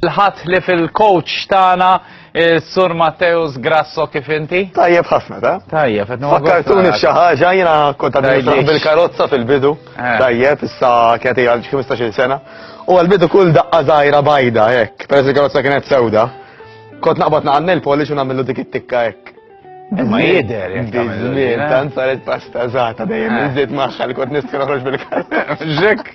Il-ħadd li fil-coach tagħna Sur Matteus Grasso kif inti? Tajjeb ħafna, ta? Tajjeb, qed Fakkartuni f'xi ħaġa jiena kont għadni bil-karozza fil-bidu. Eh. Tajjeb, issa kienet hija 15-il sena. U għal-bidu kull daqqa żgħira bajda hekk, peress il-karozza kienet sewda. Kont naqbad naqannel polish u nagħmlu dik it-tikka hekk. Ma jider, jek Bizmin, tant saret pasta zata dejjem eh. iżid maħħa li kont nistħu noħroġ bil-karta. Ġek,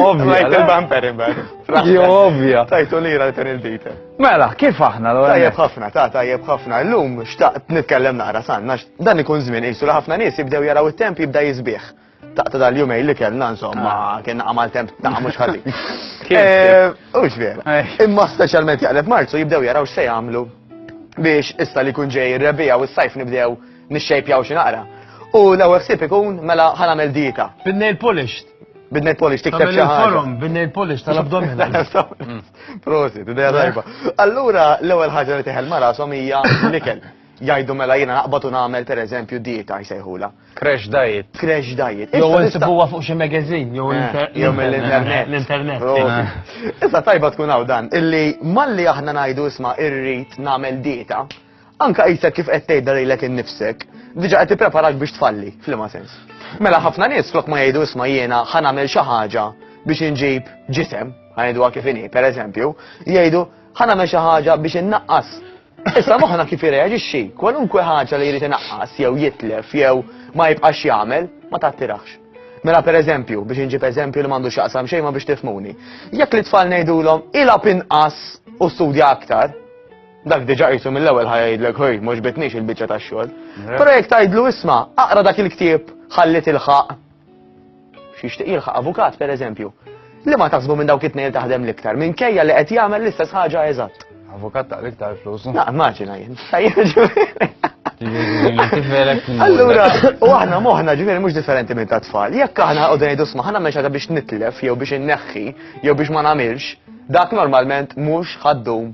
ovvja. Rajt il-bumper imbar. Jo, ovvja. Tajtu li ra kan il-dita. Mela, kif aħna l Tajjeb ħafna, ta' tajjeb ħafna. L-lum xtaqt nitkellem naqra sanna, dan ikun żmien isu ħafna nies jibdew jaraw it-temp jibda jizbieħ. Taqta dal-jumej li kellna insomma, ah. kien għamal temp ta' mhux ħażin. Eh, u vera. Eh. Imma speċjalment jaqleb Marzu jibdew jaraw x'se jagħmlu biex issa li kun ġej ir-rebija u s-sajf nibdew nixxejpjaw xi naqra. U l-ewwel ħsieb ikun mela ħanamel dieta. Bin-nail polished. Bidnet polish tikteb xi ħaġa. Forum, bidnet polish tal-abdomina. Prosit, idea tajba. Allura l-ewwel ħaġa li teħel mara hija l-ikel. Jgħidu mela jiena naqbad u nagħmel pereżempju dieta jsejħula. Crash diet. Crash diet. Jew insibuha fuq xi magazine, jew eh, mill-internet. L-internet. Issa tajba tkun hawn dan, illi malli aħna ngħidu isma' irrid nagħmel dieta, anka qisek kif qed tgħidha lilek innifsek, diġà qed tippreparak biex tfalli, f'liema sens. Mela ħafna nies flok ma jgħidu isma' jiena ħa nagħmel xi ħaġa biex inġib ġisem, ħanidwa kif inhi, pereżempju, jgħidu ħa nagħmel xi ħaġa biex innaqqas Issa moħħna kif irreaġixxi, kwalunkwe ħaġa li jrid inaqqas jew jitlef jew ma jibqax jagħmel ma tattirax. Mela pereżempju, biex inġib eżempju li m'għandux jaqsam xejn ma biex tifmuni. Jekk li tfal ngħidulhom ilgħab inqas u studja aktar, dak diġà qisu mill-ewwel ħajja jgħidlek ħoj mhux bitniex il-biċċa tax-xogħol. Però jekk tgħidlu isma' aqra dak il-ktieb ħalli tilħaq Xi jixtieq jilħaq avukat pereżempju. Li ma taħsbu minn dawk it-tnejn taħdem l-iktar, minkejja li qed jagħmel l-istess ħaġa eżatt. Avukat ta' l-iktar flus. Na, immaġina jien. Allura, u aħna moħna ġifieri mhux differenti minn ta' tfal. Jekk aħna qogħdu ngħidu sma' ħana mexa biex nitlef jew biex inneħħi jew biex ma nagħmilx, dak normalment mhux ħaddum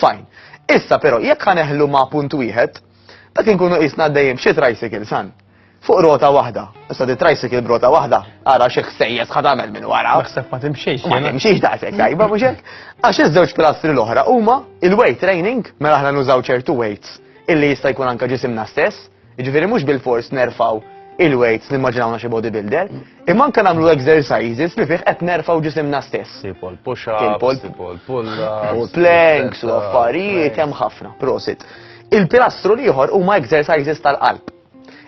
Fajn. Issa però jekk ħaneħlu ma' punt wieħed, dak inkunu qisna għaddejjin b'xi tricycle san. Fuq rota waħda. Issa di tricycle b'rota waħda, ara xi ħsejjes ħad tagħmel minn wara. Naħseb ma timxiex. Ma timxiex daqshekk tajba mhux hekk. Għax iż-żewġ pilastri l-oħra huma il-weight training mela aħna nużaw ċertu weights illi jista' jkun anke ġisimna stess Jiġifieri mhux bilfors nerfgħu il-weights nimmaġinawna xi bodybuilder, imma anke nagħmlu exercises li fih qed nerfgħu ġisimna stess. Tipo l-push-ups, tipo l-pull-ups. U planks u affarijiet hemm ħafna, prosit. Il-pilastru l-ieħor huma exercises tal-qalb.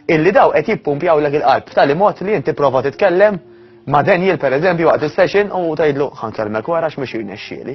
Illi daw qed jippumpjaw lek il-qalb tal mod li inti prova titkellem ma' Daniel pereżempju waqt is-session u tgħidlu ħankellmek wara x'mhux jirnexxieli.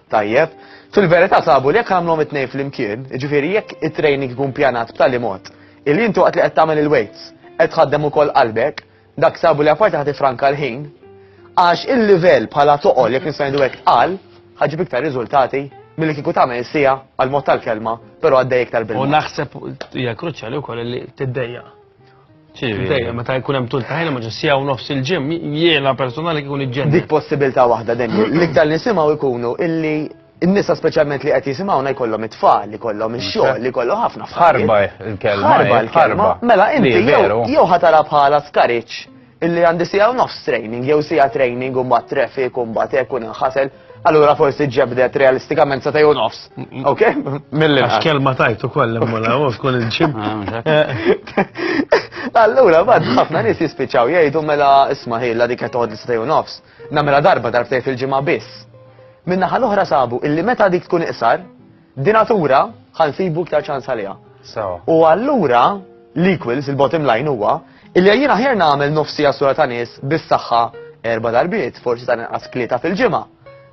Tajjeb, fil-verità sabu li jekk għamlhom it-tnejn flimkien, jiġifieri jekk it-training ikun pjanat b'tali mod illi inti waqt li qed tagħmel il-weights qed tħaddem ukoll qalbek, dak sabu li apparti ħa tifranka l-ħin, għax il-livell bħala toqol jekk nista' ngħidu hekk tqal, ħa ġib iktar riżultati milli kieku tagħmel is-siegħa għal mod tal-kelma, però għaddej iktar bil U naħseb hija kruċjali wkoll li tiddejja. Dejjem meta jkun hemm tul ta' ħin ma' sija u nofs il-ġim, jiena personali kikun iġġenni. Dik possibilità waħda dejjem. L-iktar li nisimgħu jkunu illi n-nisa speċjalment li qed jisimgħuna jkollhom it-tfal, li kollhom ix-xogħol, li kollhom ħafna. Ħarba l-kelma. Ħarba l-kelma. Mela inti jew ħatara bħala skariċ Illi għandi siegħa u nofs training, jew siegħa training u mbagħad traffic u mbagħad hekk u ninħasel, allura forsi ġebdet realistikament sa u nofs. Ok? Mill-li. Għax kelma tajtu koll imma u tkun il-ġim. Ah, allura, bad, ħafna nis jispiċaw jgħidu mela isma ħilla dik qed toqgħod sa u nofs. Namela darba darbtej fil-ġimgħa biss. Minna ħal oħra sabu illi meta dik tkun iqsar, Dinatura ħa nsibu iktar ċans għaliha. U allura l-equals, il-bottom line huwa, illi jien aħjar nagħmel nofsi għasura ta' nies bis-saħħa erba' darbiet, forsi ta' inqas klieta fil-ġimgħa,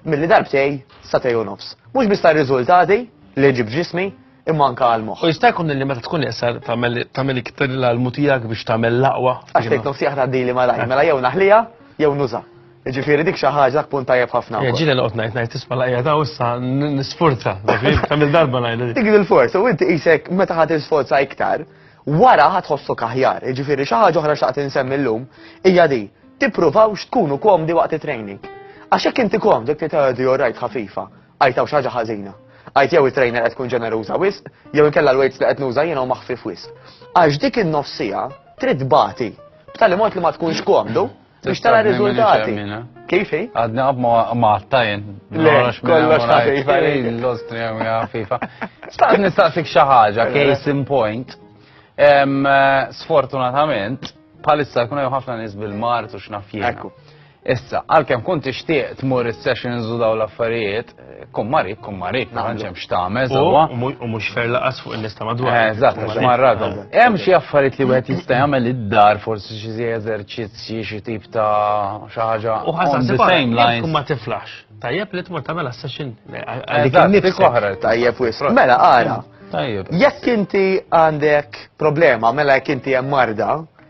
milli darbtej sa tej u nofs. Mhux biss tar-riżultati li ġib ġismi, imma anka għal moħħ. U jista' jkun li meta tkun iqsar tagħmel iktar l-almu tiegħek biex tagħmel l-aqwa. Għax tgħid nofsi aħna dili malaj, mela jew naħlija jew nuża. Ġifieri dik xi ħaġa dak punt tajjeb ħafna. Ja ġieli noqgħod ngħid ngħid tisma' laqja ta' issa nisfurza. Kamil darba ngħid. Dik il-forza u inti qisek meta ħadd isforza iktar, wara ħadd ħossok aħjar. Ġifieri xi ħaġa oħra xaqt insemmi llum hija di tippruvawx tkunu komdi waqt it-training. Għax hekk inti komd dik titgħodi orajt ħafifa, għajtaw xi ħaġa ħażina. Għajt jew it-trainer qed tkun ġeneruża wisq, jew inkella l-weights li qed nuża jiena maħfif wisq. Għax dik in-nofsija trid bati b'tali mod li ma tkunx komdu Biex tara riżultati. Kif hi? Għadna għab ma għattajn. Le, kollox ħafifa. L-Austria mija ħafifa. Staqt nistaqsik xi ħaġa, case in point. Eh, sfortunatament, palissa jkun hemm ħafna nies bil-mart u x'naf Issa, għalkemm kont tixtieq tmur is-sessions u daw l-affarijiet, Kummarik, kummarik, ma tantx hemm x'tagħmel sewwa. U mhux fer laqas fuq in-nies ta' madwar. Eh, eżatt, għax marradhom. Hemm xi affarijiet li wieħed jista' jagħmel id-dar, forsi xi zi eżerċizzji, xi tip ta' xi ħaġa. U ħażan the same lines. Tkun ma tiflaħx. Tajjeb li tmur tagħmel session. Tajjeb wisq. Mela ara. Tajjeb. Jekk inti għandek problema, mela jekk inti hemm marda,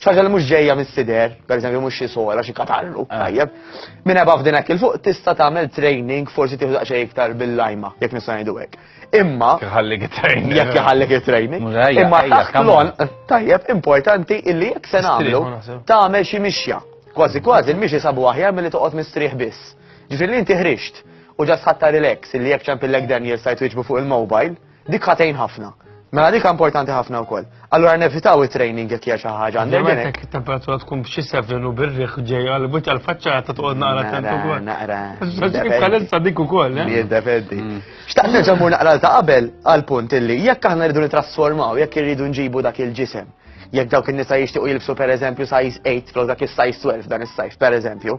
ċaġa li mhux ġejja mis-sider, pereżempju mhux xi sola, xi katarru, ah. tajjeb. Minn ebaf f'din hekk il-fuq tista' tagħmel training forsi tieħu daqsxejn iktar bil-lajma, jekk nista' ngħidu hekk. Imma jħallik training. Jekk jħallik training. Imma taħt lon tajjeb importanti illi jekk se nagħmlu tagħmel xi mixja. Kważi kważi il-mixi sabu aħjar milli toqgħod mistrieħ biss. Ġifieri inti ħrixt u ġas ħatta relax illi jekk ċempillek Daniel sajt fuq il-mobile Dik ħatejn ħafna. Mela dik importanti ħafna wkoll. Allura nevitaw it-training jekk hija xi ħaġa għandek. Jemmetek it-temperatura tkun b'xi sevenu bir-riħ ġej għal buċċa l-faċċata ta' toqgħod naqra tent ukoll. Naqra. Bħalissa dik ukoll. Eh? Jiddependi. Mm. Xtaqt nerġa' mur naqra ta' qabel għal punt illi jekk aħna rridu nitrasformaw, jekk irridu nġibu dak il-ġisem jekk dawk in-nisa jixtiequ jilbsu pereżempju size 8 flok dak is-size 12 dan is-sajf pereżempju,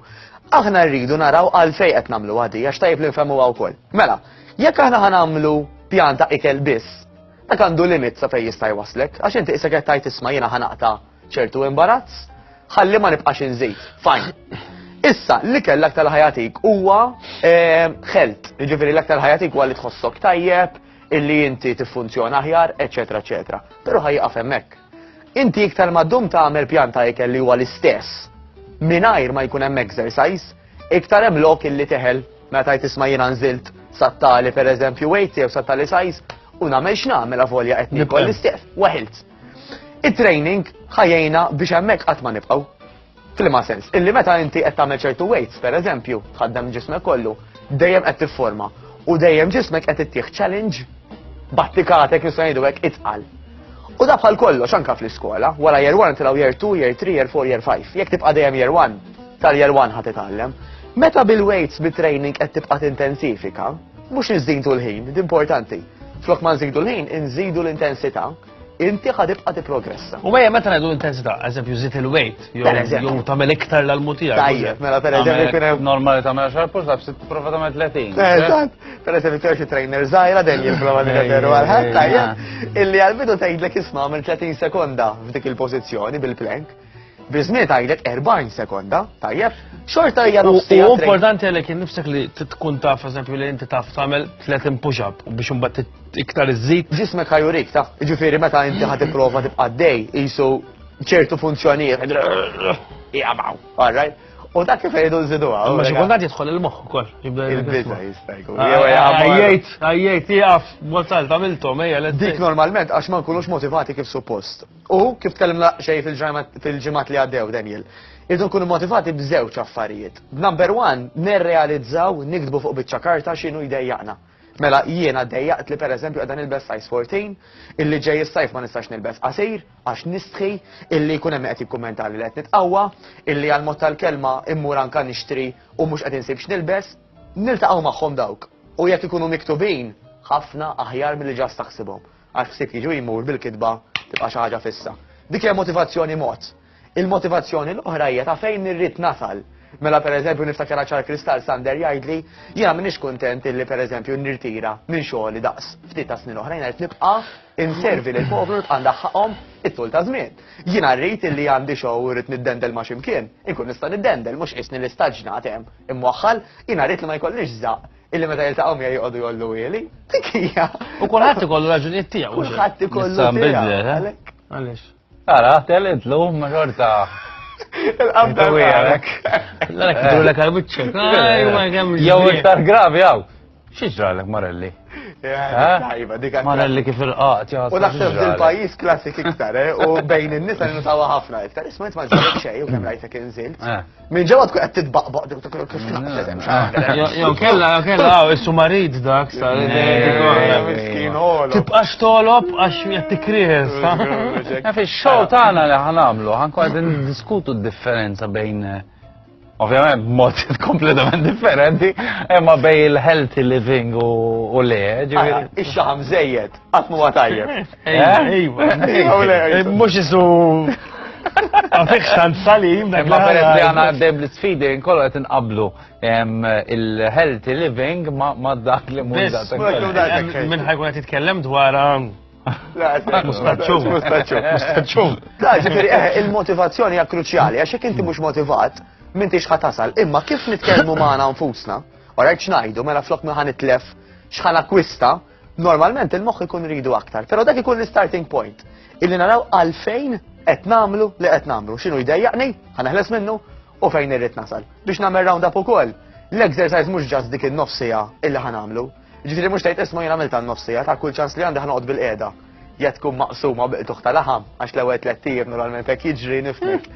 aħna rridu naraw għalfejn qed nagħmlu għadi għax tajjeb li nfehmu wkoll. Mela, Jekk aħna ħanamlu pjan ta' ikel biss, dak għandu limit sa fejn jista' jwaslek, għax inti isek qed tajt isma' jiena ħanaqta' ċertu imbarazz, ħalli ma nibqax inżid. Fajn. Issa, li kell aktar ħajatik huwa ħelt, eh, ġifiri l aktar ħajatik huwa li tħossok tajjeb, illi inti tiffunzjona aħjar, eċetera, eċetera. Però ħajqaf hemmhekk. Inti iktar ma ddum tagħmel pjan ta' ikel li huwa l-istess, mingħajr ma jkun hemm exercise, Iktar hemm lok illi teħel meta tajt isma' jiena nżilt sattali pereżempju wejti jew sattali sajz u nagħmel x'nagħmel avolja qed nikol l-istieq waħilt. It-training ħajjejna biex hemmhekk qatt ma nibqgħu. Flima sens, illi meta inti qed tagħmel ċertu weights, pereżempju, tħaddem ġismek kollu, dejjem qed tifforma u dejjem ġismek qed ittieħ challenge battikatek nista' ngħidu hekk itqal. U da bħal kollox anka fl-iskola, wara year 1 tilgħu year 2, year 3, year 4, year 5. Jekk tibqa' dejjem year 1, Tal-year one ħad titgħallem. Meta bil-weights bit-training qed tibqa' tintensifika, mhux inżidu l-ħin, importanti. Flok ma nżidu l-ħin, inżidu l-intensità, inti ħadibqa tiprogressa. U għajja meta ngħidu intensità, eżempju żid il-weight, jew tagħmel iktar l-almutija. Tajjeb, mela per eżempju kien hemm normali tagħmel xar push ups, tipprova tagħmel 30. Eh, eżatt, per eżempju tgħix trainer żgħira dejjem jipprova nirreferu għal ħadd tajjeb, illi għal-bidu tgħidlek isma' minn 30 sekonda f'dik il-pożizzjoni bil-plank. Bizniet għajlet 40 sekonda, tajjeb, xorta hija nofsija. U importanti għalek nifsek li tkun taf, eżempju, li inti taf tagħmel 30 push-up u biex imbagħad iktar iżżid. Ġismek ħajurik taf, ġifieri meta inti ħad tipprova tibqa' dej qisu ċertu funzjonijiet. Jaqbaw, all right? U dak kif jgħidu nżidu għaw. Ma xikundat jidħol il-moħ ukoll. Il-biza jistajku. Għajjajt, għajjajt, jgħaf, mozal, tamiltom, ejja. Dik normalment, għax ma nkunux motivati kif suppost. U kif tkellimna xej fil-ġimgħat li għaddew Daniel, irdu nkunu motivati b'żewġ affarijiet. Number one, nirrealizzaw nikdbu fuq biċċa karta x'inhu jdejjaqna. Mela jiena dejjaqt li pereżempju qegħda nilbes size 14, illi ġej is-sajf ma nistax nilbes qasir għax nistħi, illi jkun hemm qed jikkummenta li qed nitqawwa, illi għal mod tal-kelma immur anka nixtri u mhux qed insib x'nilbes, niltaqgħu magħhom dawk. U jekk ikunu miktubin, ħafna aħjar milli ġast taħsibhom. Għax ħsieb jiġi u jmur bil-kitba tibqa' xi ħaġa fissa. Dik hija motivazzjoni mod. Il-motivazzjoni l-oħra hija ta' fejn irrid nasal. Mela pereżempju niftakar ċar kristall Sander jgħidli jiena m'iniex kuntent illi pereżempju nirtira minn xogħli daqs ftit ta' snin oħra jiena qed nibqa' inservi lil poplu nibqa' ndaħħaqhom it-tul ta' żmien. Jiena rrid illi għandi xogħol u rrid niddendel ma' ximkien, inkun nista' niddendel mhux qisni li staġnat hemm imwaħħal, jiena rrid li ma jkollix żaq illi meta jiltaqgħu miegħi joqogħdu jollu wieli. Dik hija. U kulħadd ikollu raġunijiet tiegħu. Kulħadd ikollu. Sa nbidlet, eh? Għaliex. Ara, telid lum ma xorta. Il-qabda għalek. L-għalek kidu l-ek għal-bicċek. Jow iktar gravi għaw. Xieġra l-ek Marelli? Eh? Marelli kif il-qat. U naħseb il-pajis klassik iktar, eh? u bejn il-nisa n-nutawa ħafna iktar. Isma jtma ġarek xej, u kem rajtek inżilt. Min ġewwa tkun qed titbaqbaq dik tkun kif tnaqqset hemm xaħra. Jew kellha jew kellha hawn issu marid dak sa miskin ħolo. Tibqax tolob għax qed tikries. Fix-show tagħna li ħanamlu ħankun qed niddiskutu d-differenza bejn eh, ovvjament b'mod kompletament differenti, imma bej il-healthy living u le, ġifieri. Ix-xaħam żejjed, qatt huwa tajjeb. Mux jisu. Għafiq xan salim, dak ma peress li għana għaddem l-sfidi, nkollu għet nqablu il-healthy living ma dak li munda. Minn ħajkun għet jitkellem dwar um, Mustaċċum. Mustaċċum. Da, ġifiri, eh, il-motivazzjoni hija kruċjali, għax jekk inti mhux motivat, minn tix ħatasal. Imma kif nitkellmu magħna nfusna, u rajt xnajdu, mela flok minn ħan itlef xħan akwista, Normalment il-moħħ ikun ridu aktar, però dak ikun l-starting point. Illi naraw għalfejn qed nagħmlu li qed nagħmlu. X'inhu jdejjaqni, ħaneħles minnu u fejn irrid nasal. Biex nagħmel round up ukoll, l-exercise mhux ġast dik in-nofsija illi ħanamlu. Ġifieri mhux tgħid isma' jien għamilta n-nofsija ta' kull ċans li għandi ħanoqgħod bil-qiegħda jgħat tkun maqsuma biqtuħ ta' laħam, għax l-ewel tlettijiet normalment hekk jiġri nifnek.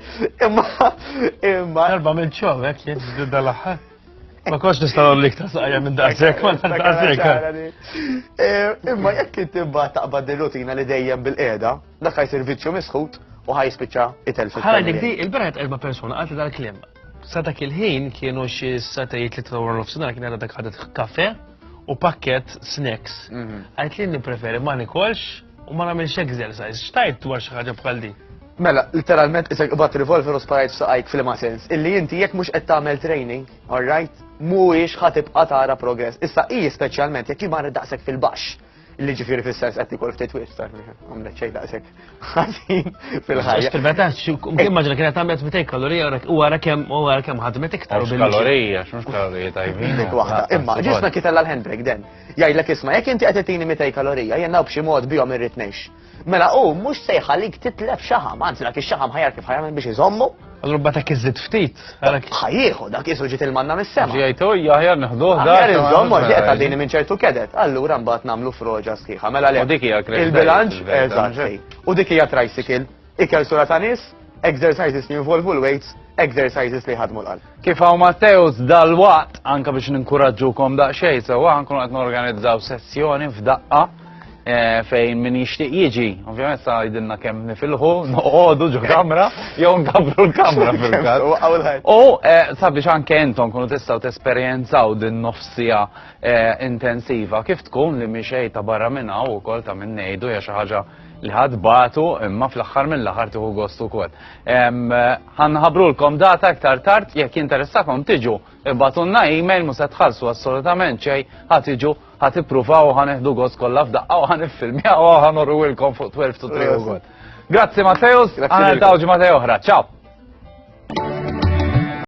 Imma, imma. Darba minn ċovek jiġri dal-aħħar. Ma kox nistaw l iktar saqja minn daqsek, ma daqsek. Eh, imma jekk inti mbagħad taqbad il-rutina li dejjem bil-qiegħda, dak ħajsir viċċju misħut u ħaj spiċċa itel fil Ħala dik di, il-beret erba' persuna għalti dal-klim. Sa dak il-ħin kienu xi satajiet li trawar l-ofsinar kien għadha dak ħadet kafe u pakket snacks. Mhm. Għajt li preferi ma nikolx U ma nagħmilx exercise, xtajt dwar xi ħaġa bħal din? Mela, literalment isek qbad revolver u sparajt saqajk fil-ma sens. Illi inti jekk mhux qed tagħmel training, alright, mhuwiex ħatib tara progress. Issa hi speċjalment jekk jimar daqshekk fil-baxx. Illi ġifieri fis-sens qed ikol ftit wiex tar għamlet xejn daqshekk ħażin fil-ħajja. Fil-meta immaġina kienet għamlet 200 kalorija u wara kemm u wara kemm ħadmet iktar. Kalorija, x'mhux kalorija tajbin. Imma ġisna kitella l-handbrake den. Jgħidlek isma' jekk inti qed itini 200 kalorija jennaw b'xi mod bihom irrid ngħix. Mela hu mhux se jħallik titlef xaħam, anzi dak ix-xaħam ħajar kif ħajamel biex iżommu. Allura bata kiżid ftit. Ħajjieħu dak isu ġiet il-manna mis-sema. Ġejtu jaħjar neħduh dak. Aħjar iżommu ġiet għadini minn ċertu kedet. Allura mbagħad nagħmlu froġa sħiħa. Mela le. U dik hija Il-bilanċ eżatt. U dik hija tricycle. Ikel sura ta' nies, exercises li jinvolvu l-weights, exercises li jħadmu l-qalb. Kif hawn Matteus dal-waqt anke biex ninkuraġġukom daqsxejn sewwa nkunu qed norganizzaw sessjoni f'daqqa eh, fejn min jixtieq jiġi. Ovvjament sa jidilna kemm nifilħu, noqogħdu ġo kamra jew nkabru l-kamra fil-każ. U eh, sabiex anke intom kunu tistgħu tesperjenzaw din nofsija eh, intensiva kif tkun li mixej ta' barra minn hawn ukoll ta' minn ngħidu hija xi ħaġa li ħad batu imma fl-axħar mill-axar tiħu gost ukoll. Ħanħabrulkom data iktar tard jekk jinteressakom tiġu ibatunna email mhux se tħallsu assolutament xejn ħad iġu ħad ippruvaw ħan iħdu gost kollha f'daqqa u ħan iffilmjaw u ħan urwilkom fuq 12 to 3 ukoll. Grazzi Matteus, għana l-tawġi Matteo oħra, ciao!